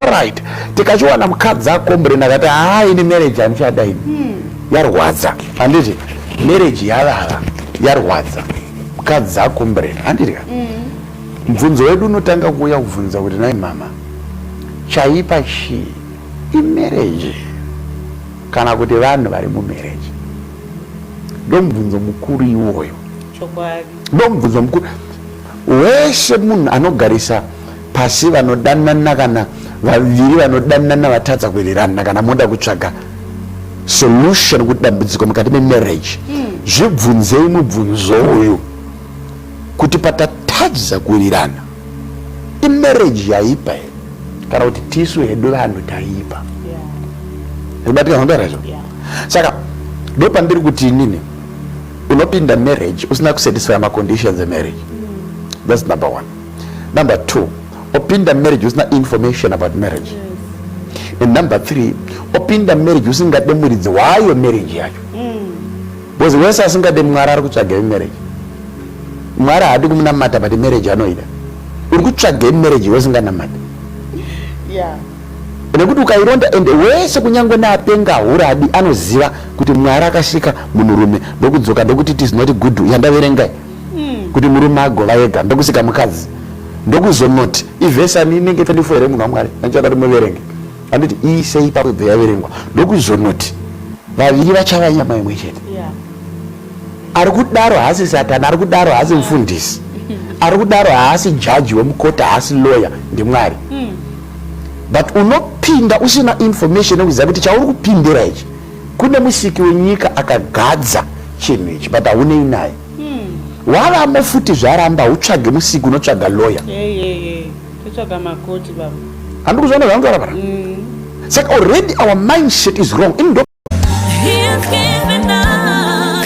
right tikachiwana mukadzi akombrena akati haa ini marriage handichada ini hmm. yarwadza handiti marriage yavava yarwadza mukadzi akombrena handiti ka hmm. mubvunzo wedu unotanga kuuya kubvunza kuti nai mama chaipa chii imarriage kana kuti vanhu vari mumarriage ndomubvunzo mukuru iwoyo ndomubvunzo mukuru wese munhu anogarisa pasi vanodanana kana vaviri vanodanana vatadza kuwirirana kana moda kutsvaga solution kuti dambudziko mukati memarriage hmm. zvibvunzei mubvunzo uyu kuti patatadza kuwirirana imarriage yaipa here kana kuti tisu hedu vanhu taipa zvibatika zvandara izvo saka ndo pandiri kuti inini unopinda marriage usina kusatisfya maconditions emarriage hmm. thats number one Number two, opinda marriage usina information about marriage. Yes. And number three, opinda marriage usingade muridzi wayo marriage yacho. Mm. Because wese asingade mwari ari kutsvaga marriage. Mwari haadi kumunamata but marriage anoida. Uri kutsvaga marriage wesinganamata. Yeah. nekuti ukaironda ende wese kunyange neapenga huradi anoziva kuti mwari akasika munhurume ndokudzoka ndokuti it is not good yandaverengai mm. kuti murume agova ega ndokusika mukadzi ndokuzonoti ivhesi ani inenge 24 here munhu wamwari andichakati muverenge anditi iisei pakubve yaverengwa ndokuzonoti vaviri vachava nyama imwe chete yeah. ari kudaro haasi satani ari kudaro haasi yeah. mfundisi ari kudaro haasi jaji wemukota haasi lawyer ndimwari mm. but unopinda usina information yekuziva kuti chauri kupindira ichi Kune musiki wenyika akagadza chinhu ichi but haunei naye hmm. wavamo futi zvaramba utsvage musiki unotsvaga loya totsvaga makoti baba handi kuzvaona zvangu varabara hmm. saka already our mindset is wrong ini